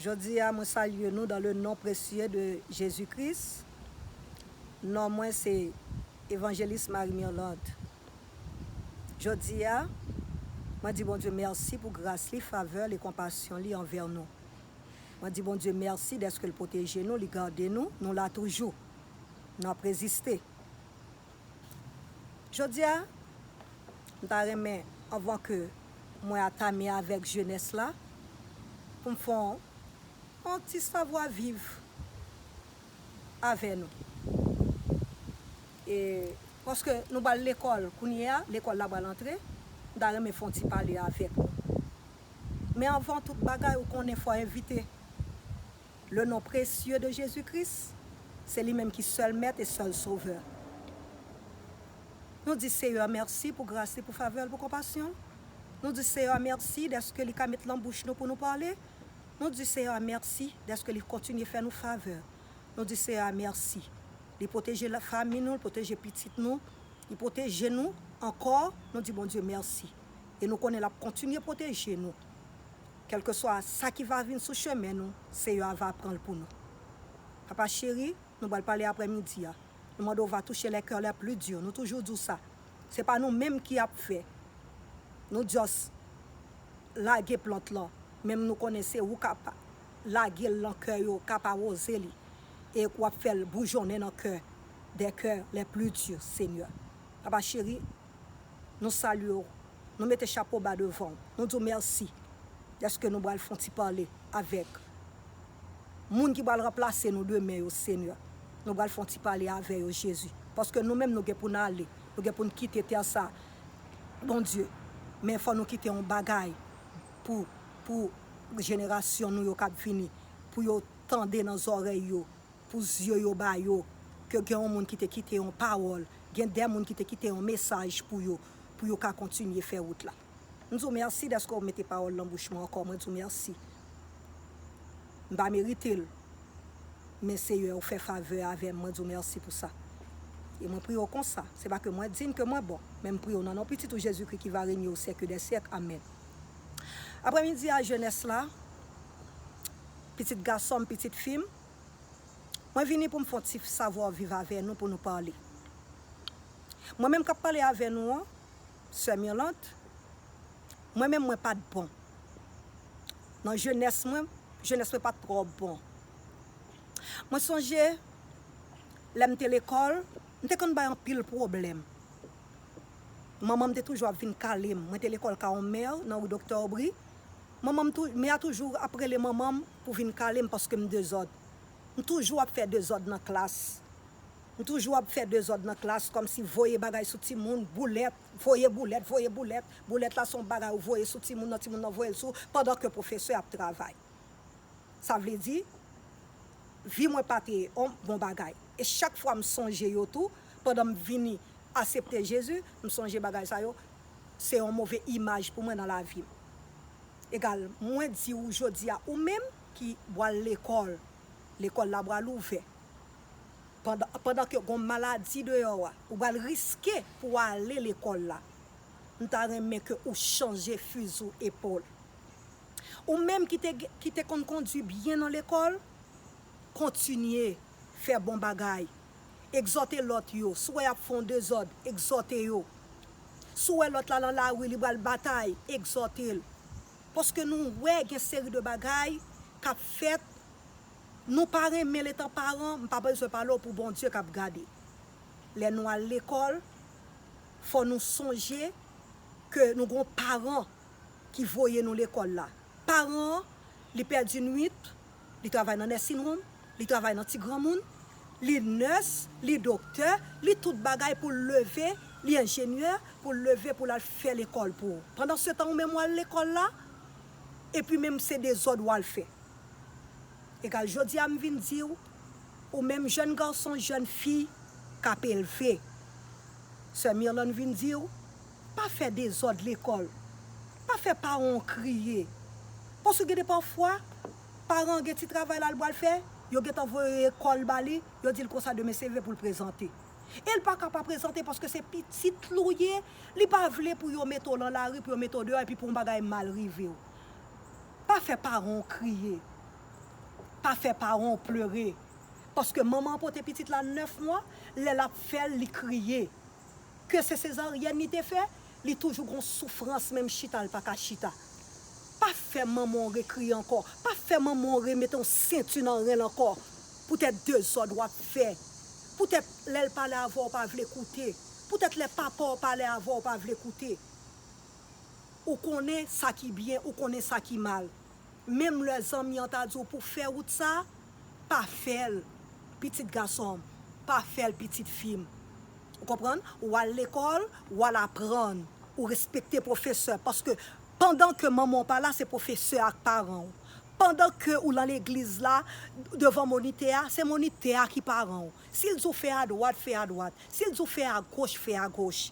Jodi a mwen salye nou dan le non presye de Jezi Kris. Non mwen se Evanjelis Marie Mirlande. Jodi a, mwen di Bondye mèsi pou gras li, favè l e konpasyon li anvè nou. Mwen di Bondye mèsi dèske l pwoteje nou, li gade nou, nou la toujou. N ap reziste. Jodia m ta renmen anvan ke mwen atame avèk jenès la pou m fè yon ti savwa viv avè nou. E paske nou pral lekòl kounye a, lekòl la pral antre, m ta renmen fè yon ti pale avèk nou. Men anvan tout bagay ou konnen fò envite Le non presieu de Jésus Christ, se li menm ki sèl mèt e sèl sovè. Nou di Seyè mèsi pou gras li, pou favè l, pou konpasyon l. Nou di Seyè a mèsi dèske li ka met lan bouch nou pou nou pale. Nou di Seyè a mèsi dèske li kontinye fè nou favè. Nou di Seyè a mèsi. Li pwoteje la fanmi nou, li pwoteje pitit nou, li pwoteje nou ankò. Nou di Bondye mèsi. E nou konnen l ap kontinye pwoteje nou. Kèlkeswa sa ki va vin sou chemen nou, Seyè a va pran l pou nou. Papa cheri, nou pral pale aprè midi a. Nou mande w va touche les cœurs les plus durs, nou toujou di w sa. Se pa nou menm ki ap fè. Nou just lage plant lan, menm nou konnen se ou k ap lage l lan kè yo, k ap awoze li, e k w ap fè l boujonnen nan kè, des cœurs les plus durs, Seigneur. Papa cheri. Nou salye w, nou mete chapo ba devan w, nou di w mèsi dèske nou pral fè yon ti pale avèk moun ki pral ranplase nou demen yo Senyè. Nou pral fè yon ti pale avè yo Jezi, paske nou menm nou gen pou n ale, nou gen pou n kite tè sa a Bondye, men fò nou kite yon bagay pou pou jenerasyon nou yo k ap vini, pou yo tande nan zòrèy yo. Pou zye yo ba yo, ke gen yon moun ki te kite yon pawòl, gen de moun ki te kite yon mesaj pou yo, pou yo ka kontinye fè wout la. M di w mèsi dèske w mete pawòl nan bouch mwen ankò, mwen di w mèsi. M pa merite l, men Seyè ou fè favè avè m, mwen di w mèsi pou sa. E mwen priye w konsa, se pa ke mwen dign, ke mwen bon, men m priye w nan non Pitit ou Jezikri ki va renye o syèk dè syèk. Amèn. Aprèmidi a jenès la, pitit gason m, pitit fi m. Mwen vini pou m fon ti savoir vivre avè nou pou nou pale. Mwen menm kap pale avè nou an, Sè Mirlande, mwen menm mwen pat bon. Nan jenès mwen, jenès mwen pat trò bon. Mwen sonje lè m te lekòl, m te konn bay anpil pwoblèm. Manman m te toujou ap vin kale m. Mwen te lekòl Caron Mère nan rue Docteur Aubry. Manman m tou, mè a toujou ap rele manman m pou vin kale m paske m dezòd. M toujou ap fè dezòd nan klas. M toujou ap fè dezòd nan klas kòmsi voye bagay sou timoun, boulèt, voye boulèt, voye boulèt. Boulèt la se yon bagay ou voye sou timoun nan, timoun nan voye l sou ou pandan ke pwofesè ap travay. Sa vle di, vi mwen pa te yon bon bagay. E chak fwa m sonje yo tou, pandan m vini asepte Jezi, m sonje bagay sa yo, Se yon move imaj pou mwen nan lavi m. Egal, mwen di ou jodi a, ou menm ki bwal lekòl, lekòl la bwal ouvè, pandan, pandan ke gon maladi deyò a, ou bwal riske pou w ale lekòl la, m ta renmen ke ou chanje fizou epòl. Ou menm ki te, ki te konn kondwi byen nan lekòl, kontinye fè bon bagay, Egzòte lòt yo. Si w wè y ap fè yon dezòd, egzòte yo. Si w wè lòt la lan lari, li pral batay, egzòte l. Paske nou wè gen seri de bagay k ap fèt, nou pa renmen l etan paran, m pa bezwen pale w pou Bondye k ap gade. Lè nou al lekòl, fò nou sonje ke nou gen yon paran ki voye nou lekòl la. Paran an, li pèdi nwit, li travay nan nursing home, li travay nan ti granmoun, li nurse, li doktè, li tout bagay poul leve, li enjenyè, poul leve poul al fè lekòl pou ou. Pandan se tan ou menm wal lekòl la, epi menm se dezòd wal fè. Egal jodi a m vin diw, ou menm jèn gason, jèn fi kap elve, sè Mirlande vin diw, Pa fè dezòd lekòl. Pa fè paran w kriye. Paske gen de pafwa, paran an gen ti travay la l pral fè, yo gen tan voye kò l ba li, yo di l konsa demen se leve pou l prezante. E l pa ka pa prezante paske se pitit l ou ye, li pa vle pou yo mete w lan lari, pou yo mete w deyò epi pou yon bagay mal rive w. Pa fè paran w kriye. Pa fè paran w plere. Paske manman an pote pitit la 9 mwa, lè l ap fè l, li kriye. Ke se sezaryèn li te fè, li toujou gon soufrans menm chita li pa ka chita. Pa fè manman w rekriye ankò, pa fè manman w remete yon sentu nan ren l ankò poutèt dezòd w ap fè, poutèt lè l pale avè w ou pa vle koute, poutèt lè papa w pale avè w ou pa vle koute. Ou konnen sa ki byen, ou konnen sa ki mal. Menm lè zanmi an ta di w pou w fè wout sa a, pa fè l, pitit gason m, pa fè l, pitit fi m. Ou konprann? Ou al lekòl, ou al aprann, ou respekte pwofesè, paske pandan ke manman w pa la, se pwofesè a k paran w. Pandan ke ou lan legliz la, devan monitè a, se monitè a ki paran w. Si l di w fè adwat, fè adwat. Si l di w fè agoch, fè agoch.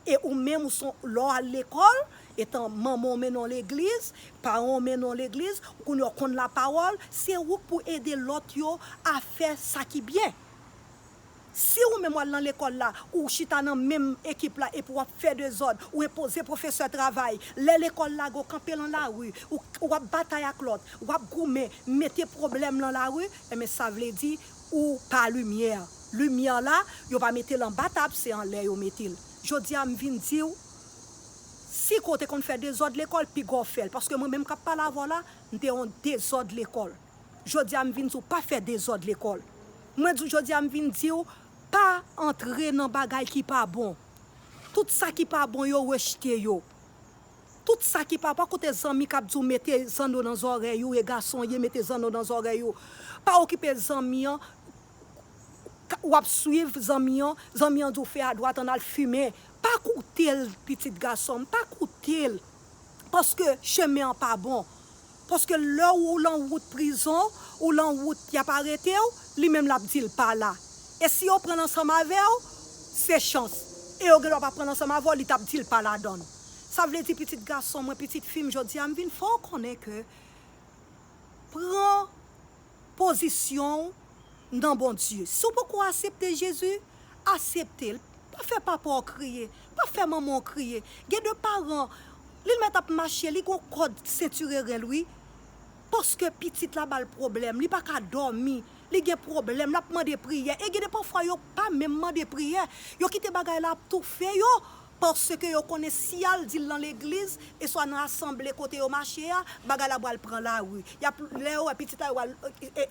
E ou menm ou son lè w al lekòl etan manman w mennen w legliz, paran w mennen w legliz, ou konnen w konn lapawòl, se ou k pou ede lòt yo a fè sa ki byen. Si ou menm w al nan lekòl la, ou chita nan menm ekip la epi w ap fè dezòd, ou enpoze pwofesè travay, lè lekòl lage w kanpe lan lari, ou w ap batay ak lòt, w ap goumen, mete pwoblèm lan lari, enben sa vle di Ou pa limyè. Limyè la, yo pa mete l anba tab, se anlè yo mete l. Jodi a, m vin di w, Si ko te konn fè dezòd lekòl, piga w fè l. Paske mwen menm k ap pale avè w la, m te yon dezòd lekòl. Jodi a, m vin di w, pa fè dezòd lekòl. Mwen di w jodi a, m vin di w, pa antre nan bagay ki pa bon. Tout sa ki pa bon yo, rejte yo. Tout sa ki papa kote zanmi kap diw mete zanno nan zòrèy ou e gason ye mete zanno nan zòrèy ou pa okipe zanmi an wap swiv zanmi an zanmi an diw fè adwat an al fimen pa koutel pitit gasonm pa koutel paske chemen an pa bon Paske lè ou lan wout prizon, ou lan wout yap arete w, li menm lap di l pa la. E si yo pran l ansanm avè w, se chans. E yo gendwa pa pran l ansanm avè w, li tap di l pa ladan l. Sa vle di pitit gason mwen, pitit fi m jodi a, m vin fè w konnen ke pran. pozisyon w nan Bondye. Si w poko asepte Jezi, asepte l. Pa fè papa w kriye, pa fè manman w kriye. Gen de paran, li l mèt ap mache, li gon kòd sentire ren l wi. Paske pitit la ba l pwoblèm, li pa ka dòmi, li gen pwoblèm, l ap mande priyè. E gen de pafwa yo pa menm mande priyè, yo kite bagay la ap toufe yo. Paske yo konnen si y al di l nan legliz, eswa nan asanble kote yo mache a, bagay la pral pran lari. Y ap, lè yo wè pitit la, yo pral,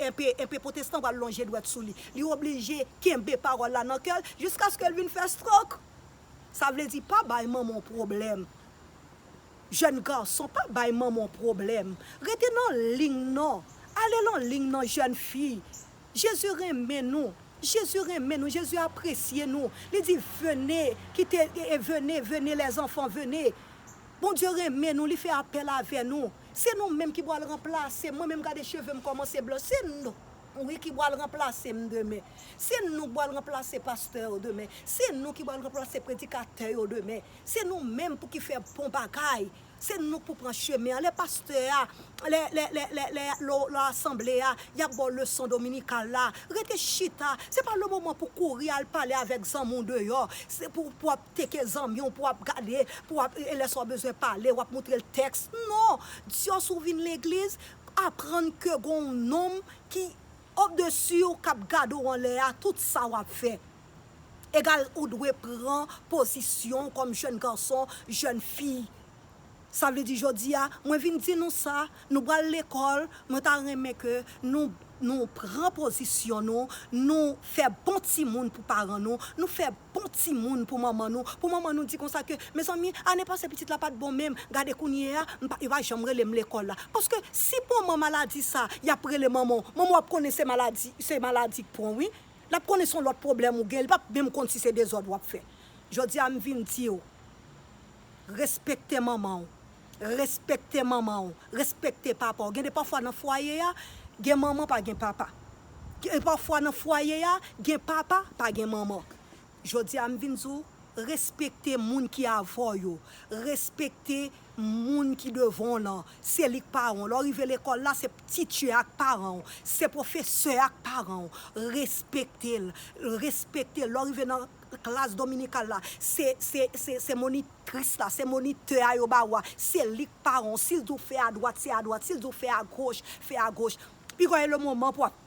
enpe, enpe potestan pral lonje dwèt sou li. Li oblije kenbe pawòl la nan kè l, jiskaske l vin fè strok. Sa vle di, pa bay manman w pwoblèm. Jèn gason, pa bay manman w pwoblèm. Rete nan ling nan. Ale nan ling nan jèn fi. Jezi renmen nou, Jezi renmen nou, Jezi apresye nou, li di vene, kite, e vene, vene lè zanfan vene. Bondye renmen nou, li fè apèl avè nou. Se nou menm ki pwal ranplase mwen menm gade chevem kòmanse blanch se nou wi ki pwal ranplase m demen. Se nou k pwal ranplase pastè yo demen, se nou ki pwal ranplase predikatè yo demen, se nou menm pou ki fè bon bagay. Se nou k pou pran chemen an. Lè pastè a, lè, lè, lè, lè, lè, lè w lan asanble a, y ap ba w leson dominikal la, rete chita. Se pa lemoman pou w kouri al pale avèk zanmi w deyò, se pou, pou w ap teke zanmi w, pou w ap gade, pou w ap, e lè sa w bezwen pale, w ap montre l tèks. Non! Diòs ou vin legliz, aprann ke gon w nonm ki, obdesi w, k ap gade w anlè a, tout sa w ap fè. Egal ou dwe pran pozisyon kòm jèn gason, jèn fi. Sa vle di jodi a, mwen vin di nou sa, nou pral lekòl, mwen ta renmen ke nou nou pran pozisyon nou, nou fè bon timoun pou paran nou, nou fè bon timoun pou manman nou, pou manman nou di konsa ke, mezanmi, ane pase pitit la pa t bon menm, gade kounye a, m pa, yo pa janm rele m lekòl la. Paske si pon man maladi sa, y ap rele manman w, manman w ap konnen se maladi, se maladi k pon w wi. Lap konnen son lòt pwoblèm ou gen li pap menm konn si se dezòd wap fè jodia m vin diw respekte manmanw respekte manmanw respekte papaw gen de pafwa nan fwaye a gen manman pa gen papa gen pafwa nan fwaye a gen papa pa gen manman. Jodi a m vin di w, respekte moun ki avè w yo, respekte moun ki devan w lan, se li k paran w. Lè w rive lekòl la, se titye a k paran w, se pwofesè a k paran w. Respekte l, respekte l. Lè w rive nan klas dominikal la, se monitris la, se monitè a yo ba ou a, se li k paran w. Si l di w fè adwat, se adwat, si l di w fè agoch, fè agoch. Piga w e lemoman pou w ap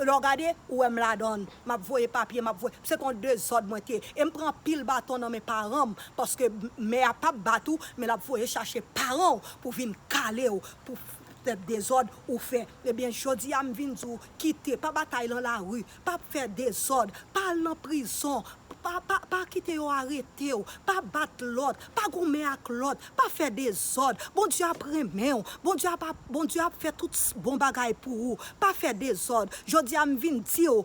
Lè w gade, ou wè m ladan l. M ap voye papye, m ap voye. Se te yon dezòd mwen te ye. E m pran anpil baton nan men paran m paske mè a pap bat ou, men l ap voye chache paran w pou vin kale w pou fè dezòd ou fè. Ebyen, jodi a m vin di w, kite, pa batay lan lari, pa fè dezòd, pa al nan prizon, Pa pa pa kite yo arete w. Pa bat lòt. Pa goumen ak lòt. Pa fè dezòd. Bondye ap renmen w. Bondye ap ap Bondye ap fè tout s bon bagay pou ou. Pa fè dezòd. Jodi a m vin di w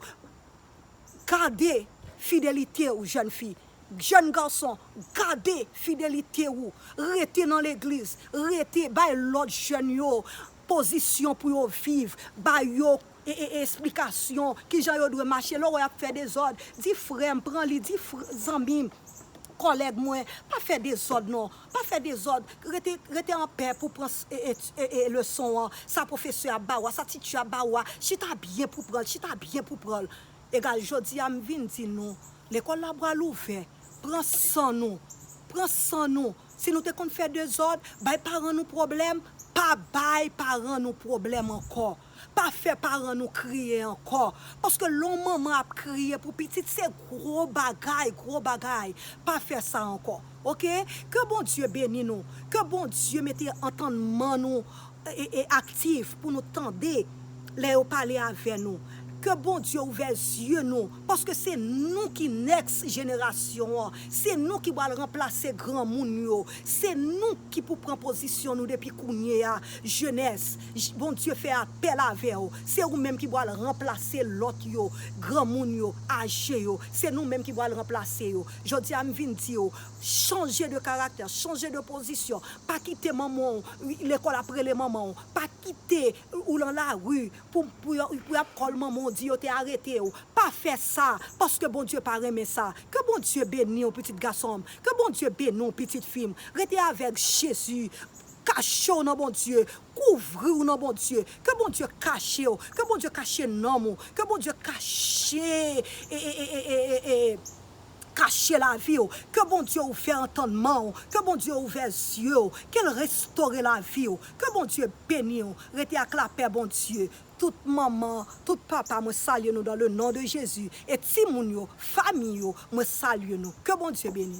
gade fidelite w jèn fi. Jèn gason gade fidelite ou. Rete nan legliz. Rete bay lòt jèn yo pozisyon pou yo viv. Ba yo esplikasyon kijan yo dwe mache lè w wè y ap fè dezòd di frè m pran li di zanmi m kòlèg mwen pa fè dezòd non pa fè dezòd rete rete anpè pou w pran leson an sa pwofesè ap ba ou a sa titye ap ba ou a chita byen pou w pran l chita byen pou w pran l egal jodi a m vin di nou lekòl la pral ouvè pran san nou pran san nou si nou te konn fè dezòd bay paran nou pwoblèm pa bay paran nou pwoblèm ankò. Pa fè paran nou kriye ankò, paske lè yon manman ap kriye pou pitit se gwo bagay, gwo bagay, pa fè sa ankò ok, ke Bondye beni nou, ke Bondye mete antannman nou aktif pou nou tande lè yo pale avè nou, ke Bondye ouvè zye nou, paske se nou ki next jenerasyon an, se nou ki pral ranplase granmoun yo, se nou ki pou pran pozisyon nou depi kounye a, jenès. J Bondye fè apèl avè w, se ou menm ki pral ranplase lòt yo, granmoun yo, aje yo, se nou menm ki pral ranplase yo. Jodi a m vin di w, chanje de karaktè, chanje de pozisyon, pa kite manman w, lekòl ap rele manman w, pa kite ou lan lari pou pou yo pou y ap kòl manman w di yo te arete w, pa fè sa, paske Bondye pa renmen sa. Ke Bondye beni w pitit gason m, ke Bondye beni w pitit fi m, rete avèk Jezi. Kachew nan Bondye, kouvriw nan Bondye, ke Bondye kachew, ke Bondye kache nanm ou, ke Bondye kache ee kache laviw, ke Bondye ouvè antannmanw, ke Bondye ouvè zyew, kel restore laviw, ke Bondye beniw, rete ak lapè Bondye, tout manman, tout papa mwen salye nou dan le non de Jezi, e timoun yo, famiy yo mwen salye nou, ke Bondye beni.